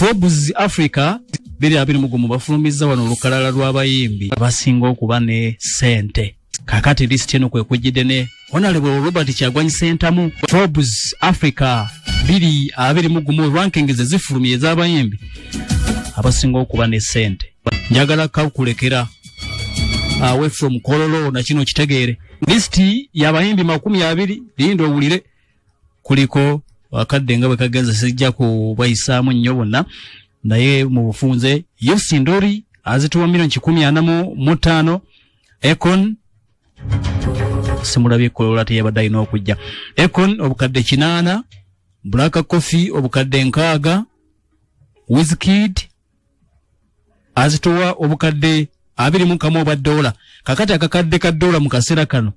Forbes Africa biri abiri mu gumu bafulumizza wano olukalala lw'abayimbi abasinga okuba ne ssente kakati lisiti eno kwe kujjidde ne honalebwe robert kyagwanyi sentamu forbes africa biri abiri mu gumu ranking ze zifulumye ez'abayimbi abasinga okuba ne ssente njagala kakulekera awe from kololo na kino kitegeere lisiti y'abayimbi makumi abiri linda owulire kuliko akadde nga bwe kagenze sijja kubayisaamu nnyo bonna naye mu bufunze yo sindori azituwa milioni kikumi ana mu mutaano econ simulabye kolola teyabadde alina okujja econ obukadde kinaana black coffee obukadde nkaaga wizkid azitowa obukadde abiri mu kamu obwa doola kakati akakadde ka doola mu kaseera kano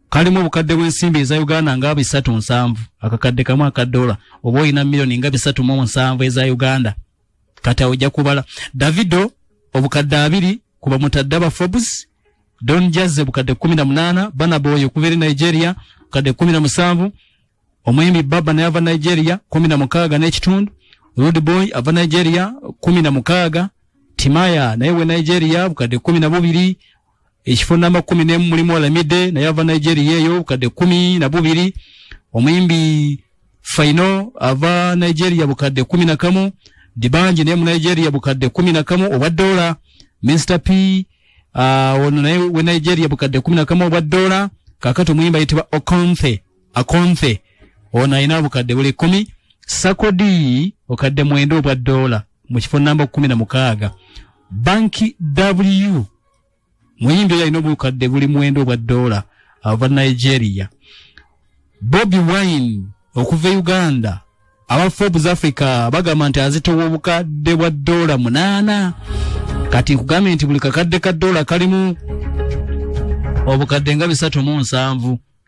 kalimu obukadde bw'ensimbi eza uganda nga bisatu nsanvu akakadde kamu aka doola oba olina miliyoni nga bisatu mu nsanvu eza uganda kati awo ojja kubala davido obukadde abiri kuba mutadde aba forbes don jazze bukadde kumi na munaana banaboyo okuva eri nigeria bukadde kumi na musanvu omuyimbi baba naye ava nigeria kumi na mukaaga n'ekitundu rude boy ava nigeria kumi na mukaaga timaya naye we nigeria bukadde kumi na bubiri ekifo namba kumi nemu mulimu olamide naye ava nigeria eyo bukadde kumi na bubiri omuyimbi faino ava nigeria bukadde kumi na kamu dibanji naye mu nigeria bukadde kumi na kamu obwa dola mr p uh, ono naye we nigeria bukadde kumi na kamu obwa dola kakati omuyimbi ayitibwa okonthe akonthe ono alina obukadde buli kumi sakodi okadde mwenda obwa doola mu kifo namba kumi na mukaaga banki w muyimbi oyo alina obukadde buli mwenda obwa doola ava nigeria bobi wine okuva e uganda aba forbes africa bagamba nti azitowa obukadde bwa doola munaana kati nkugambye nti buli kakadde ka doola kalimu obukadde nga bisatu mu nsanvu